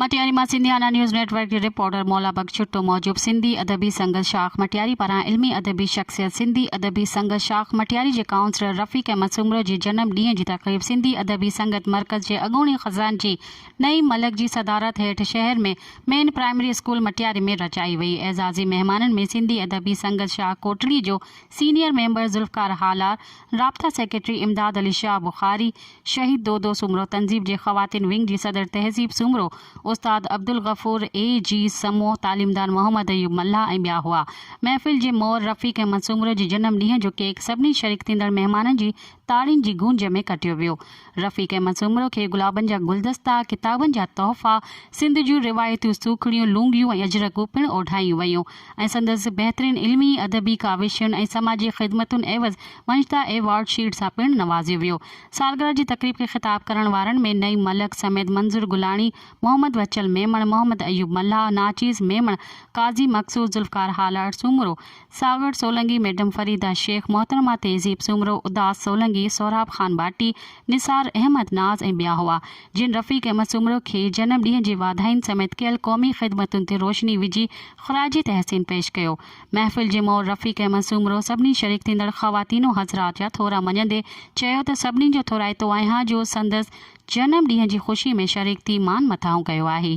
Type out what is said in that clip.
مٽياري مان Sindhiana news network جي reporter Maula Bakhsh Chhutto موجب سنڌي ادبي سنگت شاخ مٽياري پاران علمي ادبي شخصيت سنڌي ادبي سنگت شاخ مٽياري جي ڪائونسلر رفيق احمد سومرو جي جنم ڏينهن جي تقريب سنڌي ادبي سنگت مرڪز جي اڳوڻي خزانچي نعيم ملڪ جي صدارت هيٺ شهر ۾ مين پرائمري اسڪول مٽياري ۾ رچائي وئي اعزازي مهمانن ۾ سنڌي ادبي سنگت شاخ ڪوٽڙي جو سينيئر ميمبر ذوالفقار هالا، رابطا سيڪريٽري امداد علي شاهه بخاري، شهيد دودو سومرو تنظيم جي خواتين ونگ جي صدر تهذيب سومرو، استاد عبدالغفور، اي جي سمون، تعليمدان محمد ايوب ملاح ۽ ٻيا هئا. محفل جي مور رفيق احمد سومرو جي جنم ڏينهن جو ڪيڪ سڀني شريڪ ٿيندڙ مهمانن جي تاڙين جي گونج ۾ ڪٽيو ويو. رفيق احمد سومرو کي گلابن جا گلدستا، ڪتابن جا تحفا، سنڌ جون روايتيون سوکڙيون، لونگيون ۽ اجرڪون پڻ اوڍايون ويون ۽ سندس بهترين علمي، ادبي ڪاوشن ۽ سماجي خدمتن عيوض ونجدا ايوارڊ شيلڊ سان پڻ نوازيو ويو. سالگرهه جي تقريب کي خطاب ڪرڻ وارن ۾ نعيم ملڪ سميت منظر گلاڻي، محمد وچل ميمڻ، محمد ايوب ملاح، ناچيز ميمڻ، قاضي مقصود، ذوالفقار هالارڊ، سومرو، ساوڻ سولنگي، ميڊم فريده شيخ، محترمه تهذيب سومرو، اداس سولنگي، سهراب خان ڀاٽي، نثار احمد ناز ۽ ٻيا هئا، جن رفيق احمد سومرو کي جنم ڏينهن جي واڌاين سميت ڪيل قومي خدمتن تي روشني وجهي خراج تحسين پيش ڪيو. محفل جي مور رفيق احمد سومرو سڀني شريڪ ٿيندڙ خواتين و حضرات جا ٿورا مڃيندي چيو ته سڀني جو ٿورائتو آهيان جو سندس جنم ڏينهن جي خوشي ۾ شريڪ ٿي مان مٿاهون ڪيو آهي.